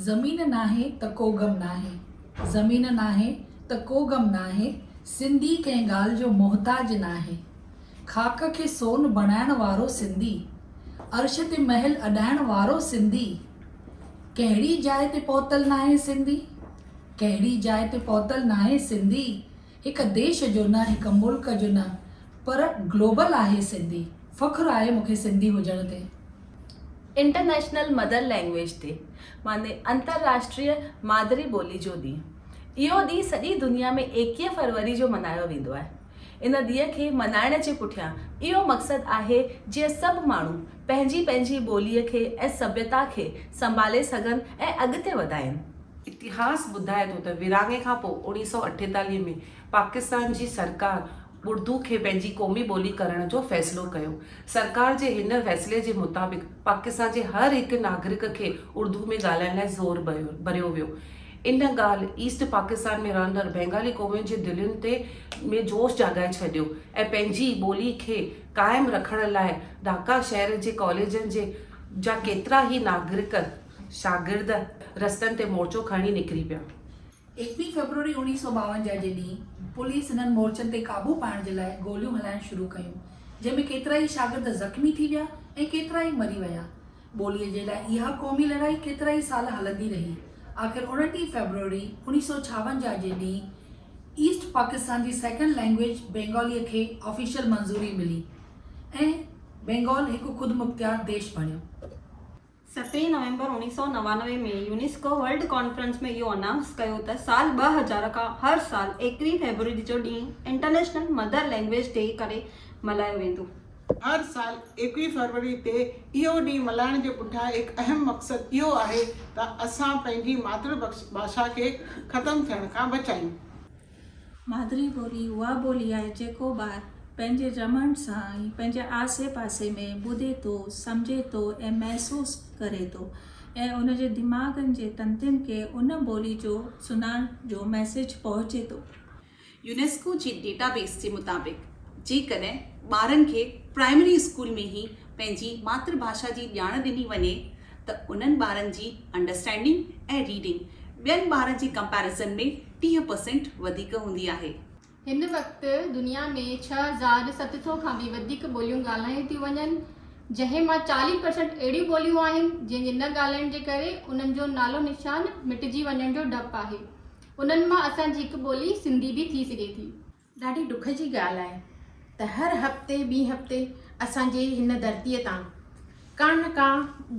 زمين ناهي ته ڪو غم ناهي زمين ناهي ته ڪو غم ناهي سنڌي ڪنهن ڳالهه جو محتاج ناهي خاڪ کي سون بڻائڻ وارو سنڌي عرش تي محل اڏائڻ وارو سنڌي ڪهڙي جاء تي پهتل ناهي سنڌي ڪهڙي جاء تي پهتل ناهي سنڌي هڪ ديش جو نه هڪ ملڪ جو نه پر گلوبل آهي سنڌي فخر آهي مون کي سنڌي هجڻ تي. انٽرنيشنل مدر لينگويج ڊي معني انترراشٽريه مادري ٻولي جو ڏينهن اهو ڏينهن سڄي دنيا ۾ ايڪيهه فروري جو ملهايو ويندو آهي ان ڏينهن کي ملهائڻ جي پٺيان اهو مقصد آهي جيئن سڀ ماڻهو پنهنجي پنهنجي ٻولي کي ۽ سڀيتا کي سنڀالي سگهن ۽ اڳتي وڌائين. اتهاس ٻڌائي ٿو ته ورهاڱي کان پوء اوڻيهه سؤ اٺيتاليهه ۾ پاڪستان جي سرڪار اردو کي پنهنجي قومي ٻولي ڪرڻ جو فيصلو ڪيو. سرڪار جي هن فيصلي جي مطابق پاڪستان جي هر هڪ ناگرڪ کي اردو ۾ ڳالهائڻ لاء زور ڀريو ويو. ان ڳالهه ايسٽ پاڪستان ۾ رهندڙ بينگالي قومين جي دلين تي ۾ جوش جاڳائي ڇڏيو ۽ پنهنجي ٻولي کي قائم رکڻ لاء ڍاڪا شهر جي ڪاليجن جي جا ڪيترا ئي ناگرڪ شاگرد رستن تي مورچو کڻي نڪري پيا. ايڪوهين فيبروري اوڻيهه سؤ ٻاونجاهه جي ڏينهن پوليس انهن مورچن تي قابو پائڻ جي لاء گوليون هلائڻ شروع ڪيون، جنهن ۾ ڪيترائي شاگرد زخمي ٿي ويا ۽ ڪيترائي مري ويا. ٻوليء جي لاء اها قومي لڙائي ڪيترائي سال هلندي رهي. آخر اڻٽيهه فيبروري اوڻيهه سؤ ڇاونجاهه جي ڏينهن ايسٽ پاڪستان جي سيڪنڊ لينگويج بينگاليء کي آفيشل منظوري ملي ۽ بينگال هڪ خودمختيار ديش بڻيو. سترهين نومبر اوڻيهه سؤ نوانوي ۾ يونيسڪو ورلڊ ڪانفرنس ۾ اهو انائونس ڪيو ته سال ٻه هزار کان هر سال ايڪوهين فيبروري جو ڏينهن انٽرنيشنل مدر لينگويج ڊي ڪري ملهايو ويندو. هر سال ايڪوهين فيبروري تي اهو ڏينهن ملهائڻ جي پٺيان هڪ اهم مقصد اهو آهي ته اسان پنهنجي ماتر ڀاشا کي ختم ٿيڻ کان بچايون. مادري ٻولي اها ٻولي آهي جيڪو ٻار پنهنجي رمڻ سان ۽ پنهنجي آسي پاسي ۾ ٻڌي ٿو، سمجهي ٿو ۽ محسوس ڪري ٿو ۽ ان جي دماغ جي تنتين کي ان ٻولي جو سڃاڻ جو ميسيج پهچي ٿو. يونيسڪو جي ڊيٽا بيس جي مطابق جيڪڏهن ٻارن کي پرائمري اسڪول ۾ ئي پنهنجي ماتر ڀاشا جي ڄاڻ ڏني وڃي ته انهن ٻارن جي انڊرسٽينڊنگ ۽ ريڊنگ ٻين ٻارن جي ڪمپيرزن ۾ ٽيهه پرسينٽ وڌيڪ هوندي آهي. هن وقت دنيا ۾ ڇهه هزار ست سؤ کان به وڌيڪ ٻوليون ڳالهايون ٿيون وڃن، جنهن مان چاليهه پرسينٽ اهڙيون ٻوليون آهن، جنهن جي نه ڳالهائڻ جي ڪري انهن جو نالو نشان مٽجي وڃڻ جو ڊپ آهي. انهن مان اسان جي هڪ ٻولي سنڌي به ٿي سگهي ٿي. ڏاڍي ڏک جي ڳالهه آهي ته هر هفتي ٻي هفتي اسان جي هن ڌرتيء تان ڪا نه ڪا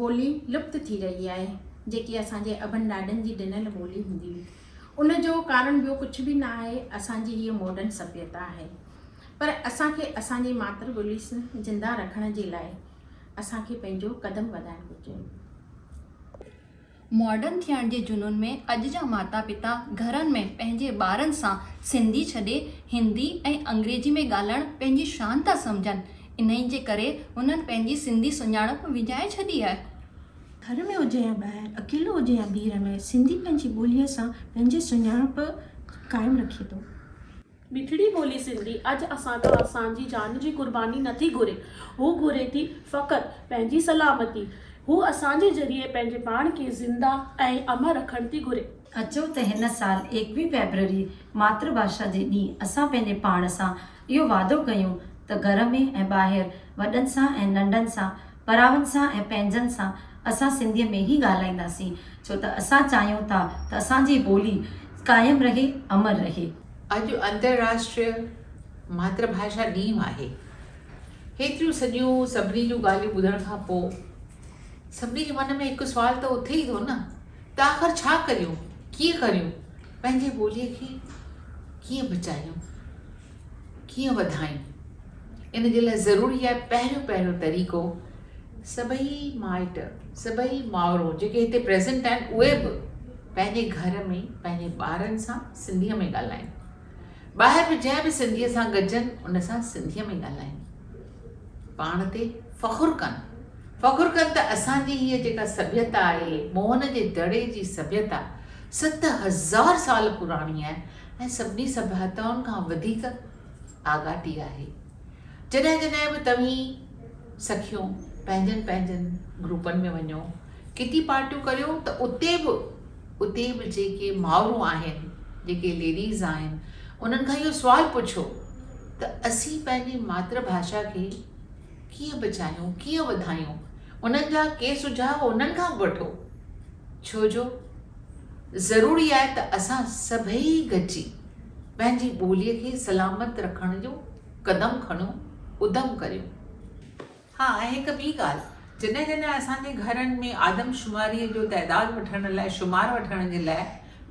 ٻولي لپت ٿي رهي آهي جيڪي اسان جي ابن ڏاڏن جي ڏنل ٻولي هوندي هئي ان جو ڪارڻ ٻيو ڪجهه به نه آهي اسان جي هيء ماڊرن سڀيتا آهي پر اسان کي اسان جي ماتر ٻولي زنده رکڻ جي لاء اسان کي پنهنجو قدم وڌائڻ گهرجي. ماڊرن ٿيڻ جي جنون ۾ اڄ جا ماتا پتا گهرن ۾ پنهنجي ٻارن سان سنڌي ڇڏي هندي ۽ انگريزي ۾ ڳالهائڻ پنهنجي شان ٿا سمجهن، انهي جي ڪري هنن پنهنجي سنڌي سڃاڻپ وڃائي ڇڏي آهي. گهر ۾ هجي يا ٻاهر، اڪيلو هجي يا ڀيڙ ۾، سنڌي پنهنجي ٻوليء سان پنهنجي سڃاڻپ قائم رکي ٿو. مٺڙي ٻولي سنڌي اڄ اسان کان اسان جي جان جي قرباني نه ٿي گهري، هو گهري ٿي فقط پنهنجي سلامتي، هو اسان جي ذريعي پنهنجي پاڻ کي زنده ۽ امر رکڻ ٿي گهري. اچو ته هن سال ايڪويهه فيبروري ماتر ڀاشا جي ڏينهن اسان پنهنجي پاڻ سان اهو وعدو ڪيون ته گهر ۾ ۽ ٻاهر وڏن سان ۽ ننڍن سان پراون سان ۽ پنهنجن سان اسان سنڌيء ۾ ئي ڳالهائينداسين، ڇو ته اسان چاهيون ٿا ته اسان جي ٻولي قائم رهي، امر رهي. اڄ انترراشٽريه ماترڀاشا ڏينهن آهي. هيتريون سڄيون سڀني جون ڳالهيون ٻڌڻ کان پوء سڀني جي من ۾ هڪ سوال ته اٿي ئي ٿو نه ته آخر ڇا ڪريون، ڪيئن ڪريون، پنهنجي ٻوليء کي ڪيئن بچايون؟ ڪيئن وڌائين ان جي لاء ضروري آهي پهريون پهريون طريقو سڀئي مائٽ سڀئي مائرو جيڪي هتي پريزنٽ آهن اهي به پنهنجي گهر ۾ پنهنجي ٻارن سان سنڌيء ۾ ڳالهائين ٻاهر به جنهن به سنڌيء سان گڏجن ان سان سنڌيء ۾ ڳالهائين پاڻ تي فخر ڪن فخر ڪن ته اسان جي هيء جيڪا سڀيتا آهي موهن جي دڙي جي سڀيتا ست هزار سال پراڻي آهي ۽ سڀني سڀيتائن کان وڌيڪ آڳاٽي آهي. جڏهن جڏهن به توهين سکيو پنهنجن پنهنجن گروپن ۾ وڃو، ڪٽي پارٽيون ڪريو ته اتي به اتي به جيڪي مائرون آهن، جيڪي ليڊيز آهن انهن کان اهو سوال پڇو ته اسين پنهنجي ماتر ڀاشا کي ڪيئن بچايون، ڪيئن وڌايون، انهن جا ڪي سجهاء انهن کان به وٺو ڇو جو ضروري آهي ته اسان سڀئي گڏجي پنهنجي ٻوليء کي سلامت رکڻ جو قدم کڻيون، ادم ڪريون. ها ۽ هڪ ٻي ڳالهه، جڏهن جڏهن اسان جي گهرن ۾ آدمشماريء جو تعداد وٺڻ لاء شمار وٺڻ جي لاء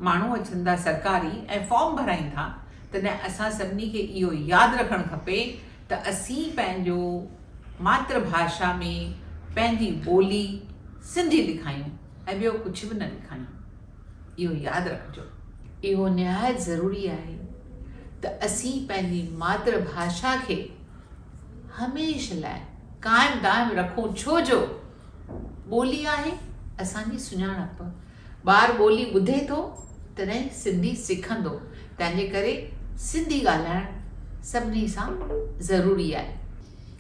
ماڻهو اچن ٿا سرڪاري ۽ فارم ڀرائين ٿا، تڏهن اسان سڀني کي اهو ياد رکڻ کپي ته اسين پنهنجو ماتر ڀاشا ۾ پنهنجي ٻولي سنڌي لکايون. ۽ ٻيو ڪجهه به نه لکڻ. اهو ياد رکجو. اهو نهايت ضروري آهي ته اسين پنهنجي مادر ڀاشا کي هميشه لاء قائم دائم رکون ڇو جو ٻولي آهي اسان جي سڃاڻپ. ٻار ٻولي ٻڌي ٿو تڏهن ئي سنڌي سکندو تنهنجي ڪري سنڌي ڳالهائڻ سڀني سان ضروري آهي.